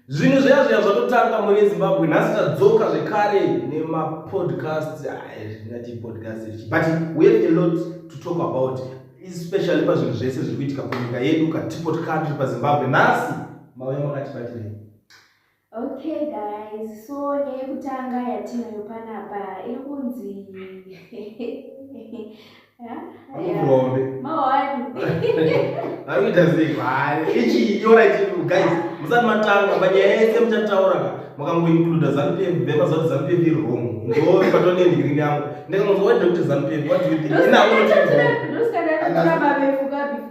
zvinhu zviya zviya zvatotanga mune zimbabwe nhasi tadzoka zvekare nemapodcast zvinati podcast but we have a lot to talk about especially pazvinhu zvese zviri kuitika kunyika yedu katipo tikatri pazimbabwe nhasi mauya makatibatirei okay guys so neyekutanga yatinayo panapa iri kunzi Amukombe. Mawani. Akuita sei kwari? Ichi yora ichi guys. Musati matanga panyaya yese muchataura ka. Makangoincluda ZanuPF vema zoti ZanuPF iri wrong. Ndo patone ndigiri yangu. Ndakangonzwa kuti Dr. ZanuPF what do you think? Ina uno tiri. Ndosikada kuti baba vefuka before.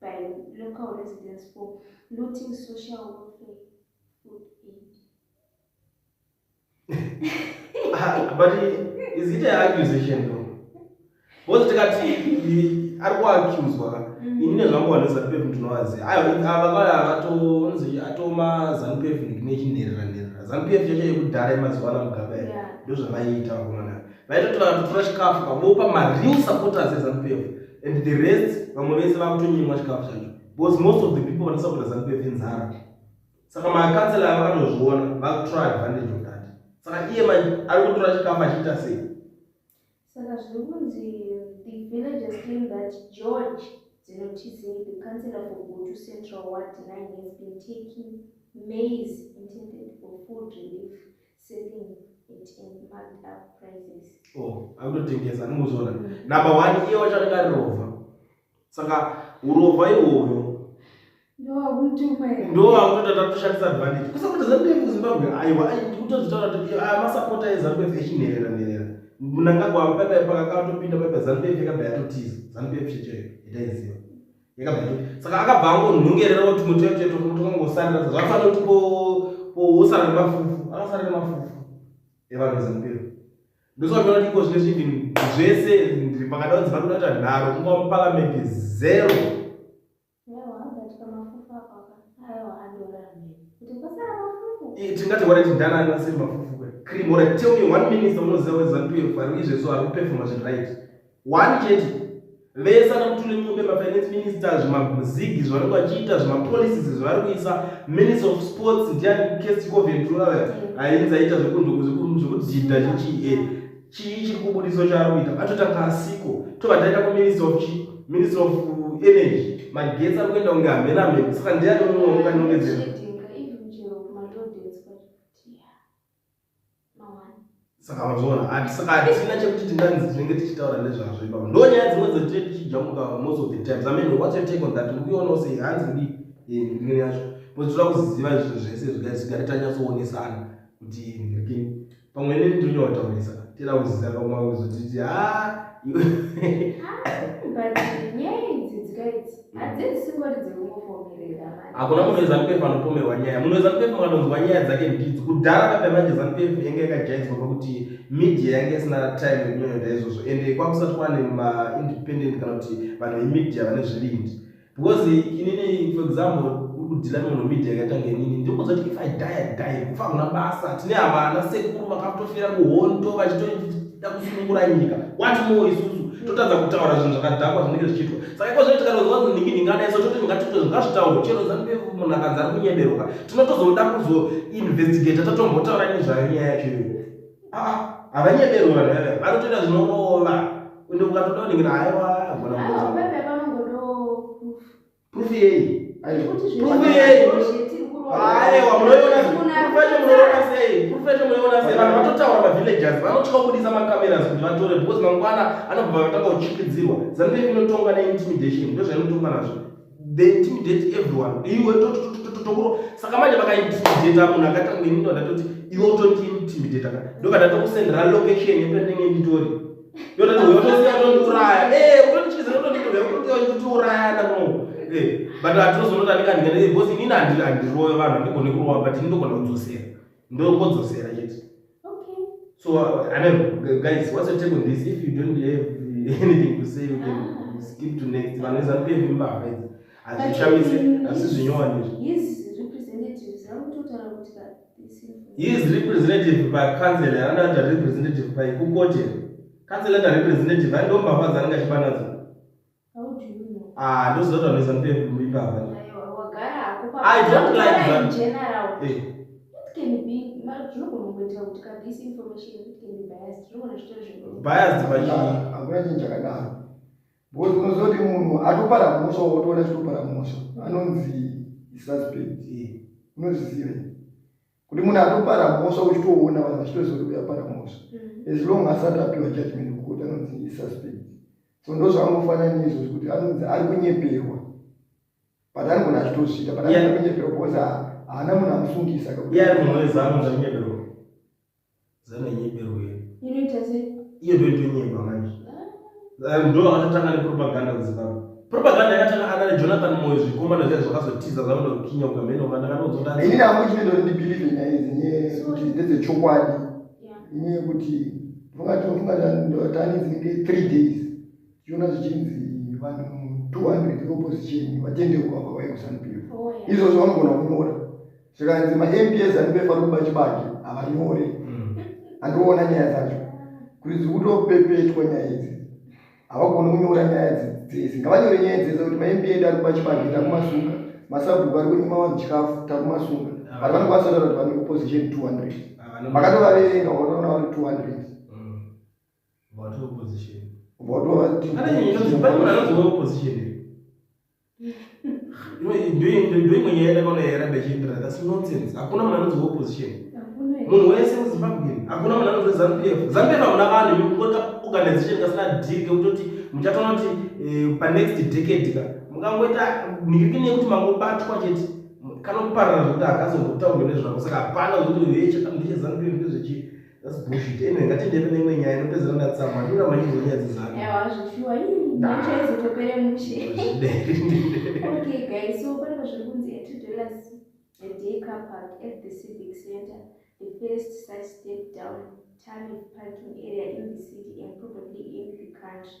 by local residents for looting social welfare food aid. Ah, but is it an accusation though? Both tikati ari kuaccuswa mm. ini nezvangu vanhu vezanupef ndinovaziva avatonzi atoma zanupef nechinerera nerera zanupef chacho yekudhara yemazuva ana mugaba ndozvavaiita vakomana vaitoti vanotora chikafu vamopa mareal supporters ezanupf and the rest vamwe vese vakutonyimwa chikafu chacho because most of the people vanosapota zanupf inzara saka makansela avo anozviona vakutora advantage of that saka iye manje ari kutora chikafu achiita sei saka zviri kunzi the villages claim that george dzinotizei the councilor for gutu central ward nine has been taking maize intended for food relief Selling it in marked up prices. Oh, akutotengesa anongozoona. Number 1 iye wacho anenge arirova. Saka urova iwoyo ndo akutoita tatoshandisa advantage kusakuti zambia kuzimbabwe aiwa kutozitaura kuti aya masapota ezambia echinherera nherera munangagwa paipai pakakatopinda paipai zambia ikabva yatotiza zambia checheyo itaiziva saka akabva angonhongerera kuti muti wecheto kuti kangosarira sa zvafana kuti pousara nemafufu akasara nemafufu evanhu vezimbiro ndosvatoona kuti iko zvine zvivin zvese ndiri pakada kuti vakuda kuita nharo kunga muparamendi zero tingati wareti ndanani vasiri mafufu kwe cream or tell me one minister unoziva wezantu yefaru izvezvo ari kupefoma zviri right one chete vese ana mutulemumbe mafinance minister zvimabhuzigi zvavanenge vachiita zvimapolicies zvavari kuisa minister of sports ndiani kesticoventuraya ainzi aita zvekudhinda chichie chii chiri kubudiso chaari kuita vatotanga asiko tobva taita kuminister of chi minister of energy magetsi ari kuenda kunge hamena hameno saka ndiani mumwe unganongedzera saka mazviona hatisina chekuti tinganzi tinenge tichitaura nezvazvo ipapo ndo nyaya dzimwe dzatinenge tichijamuka most of the times i mean what's your take on that ukiona usei hanzi ndi ndine yacho pozotoda kuziziva zvinhu zvese zvigari zvigari tanyatsowonesana kuti ndiki pamwe neni ndinyotaurisa tira kuziziva pamwe wavo zotiti ha ah, hakuna munhu wezanu pf anopomerwa nyaya munhu wezanu pf akanonzwa nyaya dzake mbidzi kudhara kapa manje zanu pf yange yakajaidzwa pakuti media yange isina time yekunyonyoda izvozvo ende kwakusati kwane maindependent kana kuti vanhu vemedia vane zvivindi because inini for example kudhila munhu media yakatanga inini ndikuudza kuti if i die i die kufa hakuna basa tine havana sekuru vakatofira kuhondo vachito da kusunungura nyika what more isusu totadza kutaura zvinhu zvakadhakwa zvinenge zvichiitwa saka iko zvee tikatoziva kuti ndingi ndinganaiso toti ndingatiite zvingazvitaurwa chero zanu munhu akanzi ari kunyeberuka tinotozoda kuzoinvestigata tatombotaura ini zvayo nyaya yacho iyo aa ah, havanyeberwi vanhu vave vanotoita zvinorova ende ukatoda unenge naaewa agona Proof yei? Proof yei? Aewa, munoiona proof yacho munoiona sei? Proof yacho munoiona sei? Vanhu vatotaura mavillagers vanotya kubudisa macameras kuti vatore because mangwana anobva vatanga kuchikidzirwa. Zanu yake inotonga neintimidation ndozvainotonga nazvo. They intimidate everyone. Iwe tokuro saka manje vakaintimidata munhu akaita kunge nini ndatoti iwe utondiintimidata ka ndokadatokusendera location yependenge nditori hazvishamisi asi zvinyowani izvi He is representative by council anoda kuti representative by kukote council anoda representative ando mbavha dzaanenge achiba nadzo ah ndoziva kuti vanoisa mupepu imbavha i don't like that eh. biased pachii Because unozoti munhu atopara mhosva wotoona chitopara mhosva anonzi suspect unozviziva kuti munhu atopara mhosva uchitoona vanhu vachitoziva kuti uyapara mhosva mm. as long asati apiwa judgment kukoti anonzi isuspect so ndo zvaanofanira neizvozvi kuti anonzi ari kunyeperwa but anogona achitosvika but anoda kunyeperwa because haana munhu amusungisa Zana nyebero ye. Inoita sei? Iyo ndio ndio nyeba manje. Ah. Eh, ndio anatanga ni propaganda kuzimbabwe. Propaganda yakatanga ana ni Jonathan Moyo zvikoma na zvazo kazotiza zvavona kukinya ukameno kana kana uzoda. Ini na kuti ndo ndi believe in is nye kuti ndeze chokwadi. Ini kuti funga to funga ndo tani zinge 3 days. Yona zvichinzi vanhu 200 opposition vatende kwa kwa kusana pio. Izvo zvavanogona kunyora. zvikanzi maMPS andipefa kuba chibage havanyore mm. andiona nyaya dzacho kuti dziri kutopepetwa nyaya idzi havagoni kunyora nyaya dzese ngavanyore nyaya dzese kuti maMPA ari kuba chibage takumasuka masabhuku ari kunyima vanhu chikafu takumasuka ah. vari vanokwanisa kutaura kuti vane opposition 200 vakatovaverenga vakaona vari 200 vatovaverenga ndoimwe nyaya yakaonayera ndachindira thats nonsense hakuna munhu anonzi opposition munhu wese muzimbabwe hakuna munhu anonzi zanu pf zanu pf hamuna vanhu yokota organization kasina diri kekutoti muchatoona kuti eh, panext decade ka mungangoita nirikini yekuti mangobatwa chete kanoparara zvekuti akazongotaurwe nezvako saka hapana zvekuti hechekandechezanu pf ndezvechii That's bullshit. Anyway, ngatiende kune imwe nyaya inopedzera ndatsamwa. Ndura manyinzo nyaya dzizanu. Ewa zvifiwa ii nyaya chaizotopere mushe. Okay guys, so pane zviri kunzi at dollars a day car park at the civic center. The first such step down time parking area in the city and probably in the country.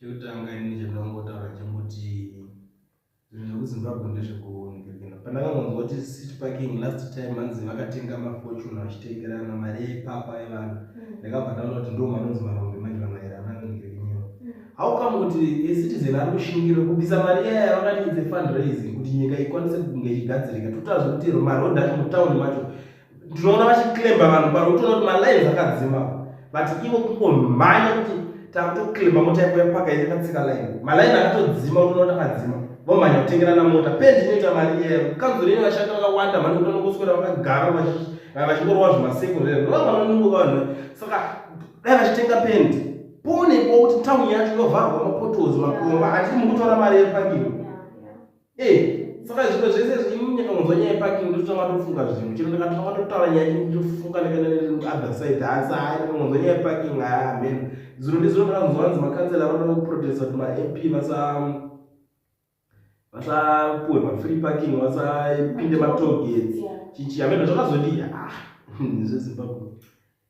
chekutanga ini chandongotaura chekuti zvinhu zvekuzimbabwe ndezvekunikekena pandakangonzwa kuti city parking last time anzi vakatenga mafortune vachitengerana mari yeipapa yevanhu mm. ndakabva ndaona kuti ndo manonzi marombe manje vamaerana nikekenyeo mm. how come kuti ecitizen ari kushingira kubisa mari yaya yavakati its a fundraising kuti nyika ikwanise kunge ichigadzirika totaura zvekuti maroad acho mutauni macho ndinoona vachiklemba vanhu pano utoona kuti malines akadzima but ivo kungomhanya kuti takutoklemba mota yako yapaka iri katsika line maline akatodzima unoona akadzima vomhanya kutengerana mota pendi inoita mari iyeyo kanzuro ine vashandi vakawanda mhani kuti vanongoswera vakagara vachingorova zvimasekuru rero ndova vanonungo vanhu saka dai vachitenga pendi pone po kuti tauni yacho inovharwa mapotozi makomba hatisi mukutora mari yepakiro Eh, saka zvimwe zvese zvimwe nyakamunzwa nyaya yeparking ndototanga tofunga zvinhu chero ndakatanga totaura nyaya chii ndofunga ndakaother side hasa hai ndakamunzwa nyaya yeparking haya amen zuro ndizuro ndakanzwa hanzi makansela vanoda kuprotesta kuti mamp vasa vasapuwe mafree parking vasapinde matogets chichi ameno zvakazodii ah zvezimbabwe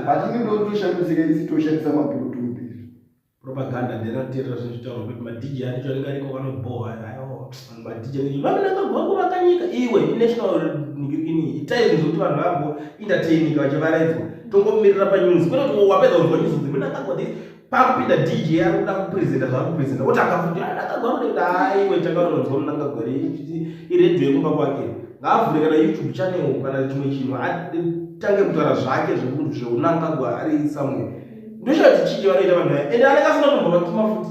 But ini ndotoshambidzika isi toshandisa maburutu mbiri. Propaganda nderateerera zvinezvitaurwa kuti madj ane charinga riko vanobhohwa ayo madj ane vanonanga gwangu vakanyika iwe inational nigirikini itai zvinhu zvekuti vanhu vambo entertainika vachivaraidzwa tongomirira panews kwete kuti wapedza kunzwa news kuti munangagwa this pakupinda dj ari kuda kupresenta zvaari kupresenta oti akafuti ndakagwaroenda haiwe chakaononzwa munangagwari iredio yekumba kwake ngaavhure kana youtube channel kana chimwe chinhu atange kutaura zvake zvekuti zveunangagwa ari somewhere ndochati chii vanoita vanhu vaya ende anenge asina tombovatuma futi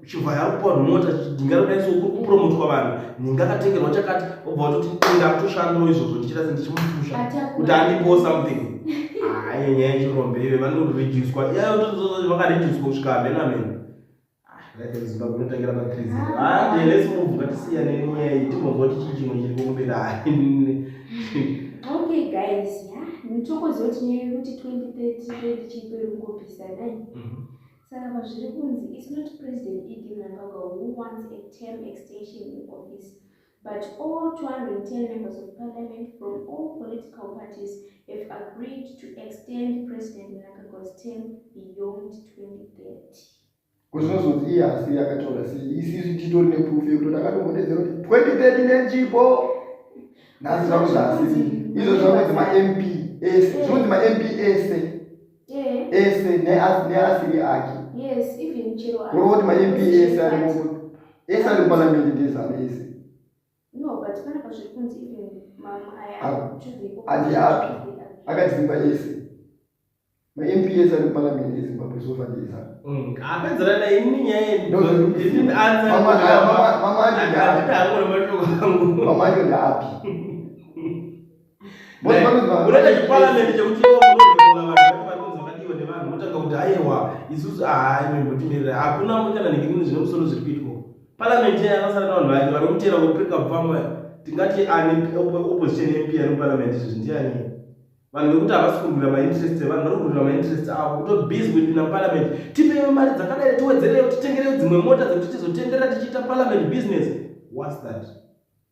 uchibva yakupiwa mota ndingarodaiso kuri kupromotwa vanhu ndingakatengerwa chakati obva watoti ndakutoshandawo izvozvo ndichita se ndichimupusha kuti andipowo something hayi nyaya yechirombe ive vanoreducwa vakareducwa kusvika hamene hamene zimbabwe inotangira patrisi hande lesi mubvu ngatisiyane nenyaya iyi timbonzwa kuti chii chimwe chiri kumberi hayi okay guys nitokoziwa tinyaya yekuti 2030 chiperi kungopisa nai Saka pazviri kunzi it's not President ED Mnangagwa who wants a term extension in office but all 210 members of parliament from all political parties have agreed to extend President Mnangagwa's term beyond 2030. Kuzvozvoti iye asi yakatora sei isisu titori neproof yekuti takatongodedzera kuti 2030 nenjipo nhasi zvaku zvaasisi izvo zvakunzi mamp ese zvinonzi mamp ese ese neasiri ake kurova kuti mamp ese ari mu ese ari muparliament ndezanu ese ati api akadzimba ese mamp ese ari muparliament ezimbabwe sofa ndezanu mamacho ndaapi unoita chiparliament chekuti vakadiwa nevanhu votanga kuti aiwa isusu ahai mbotimirira hakuna kana nekinini zvine musoro zviri kuitwa parliament yaya akasara navanhu vake vari kutera kuprika pfamwe tingati ani opposition mp ari muparliament izvi ndiani vanhu vekuti havasi kurwira mainterest evanhu vari kurwira mainterest avo kuto busy kuipinda muparliament tipeiwo mari dzakadai tiwedzereyo titengereyo dzimwe mota dzekuti tizotenderera tichiita parliament business whats that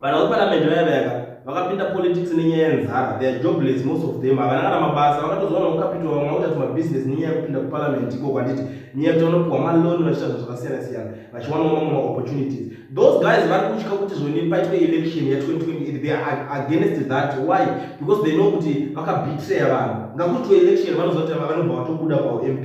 Vana veparamende vaya vaya ka vakapinda politics nenyaya yenzara they are jobless most of them havana kana mabasa vakatozowana ukapitwa vamwe vakuita tumabusiness nenyaya yekupinda kuparamende ikoko handiti nyaya kuti vanopiwa maloni vachiita zvinhu zvakasiyana siyana vachiwanawo mamwe maopportunities those guys vari kutya kuti zvoni paitwe election ya 2020 they are against that why because they know kuti vakabetraya vanhu ngakutwe election vanozoita vanobva vatobuda pamp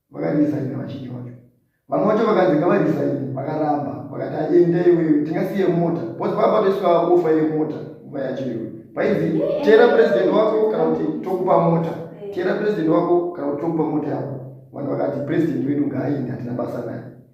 vakarisaina vachinji vacho vamwe vacho vakanzi ngavarisaini vakaramba vakati aende iwewe tingasiye mota bcause vakapatoiswa ofa yemota nguva yacho iwe painzi tera president wako kana kuti tokupa mota tera president wako kana kuti tokupa mota yako vanhu vakati president wedu ngaaende hatina basa naye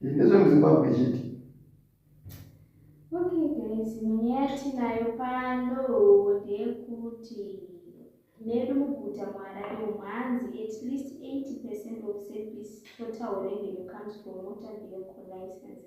Ndezvo muZimbabwe chiti. Okay guys, nyaya yatinayo pano ndeyekuti medu muguta muharare umu hanzi at least 80 percent of service total revenue comes from motor vehicle license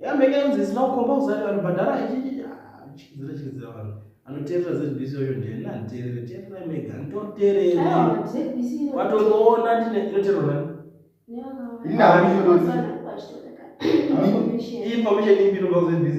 yambenge yanzi zisina kukomba kuzati vanhu bhadhara ichichichizira ah, chikidzira vanhu anoteerera zbc oyo ndiyani anditeerere teererai mega nditoteereri watonoona ndine inoteerera information ipi inobva kuzbc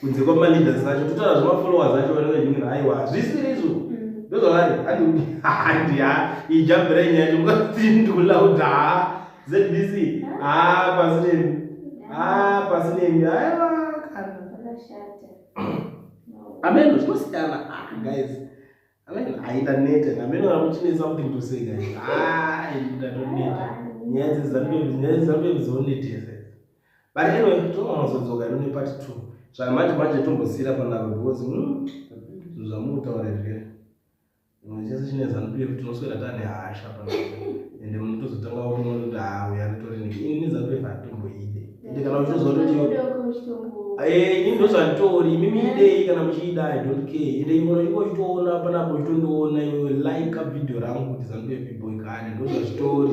kunze kwama leaders acho totaura zvema followers acho vari vanyumira aiwa hazvisiri izvo mm. ndozvavari andikuti handi ha ijambira inyaya yacho mukati ndikula kuti ha zbc ha pasi nemi ha pasi nemi aiwa kana ameno zvinosiyana ah, guys Amen. Aida neta na meno na mchini za kuti ndose ga. Ah, ida to neta. Nyazi za mbe nyazi za mbe zo neta. But anyway, to ma zo zo ga ni part 2. Zva manje manje to mbosira pa na because mm. Zva mu ta ore vile. Nyazi chine za mbe kuti no swela tani hasha pa. Ende mtu zo tanga wo no da ya to ni. Ni za mbe fa to mbo ide. ende kana uchizoziva kuti ini ndozvanditori imi miidei kana muchiida i don't care ende imono ingochitoona panapo uchitondiona iwe like video rangu kuti zanupepiboi kani ndozvazvitori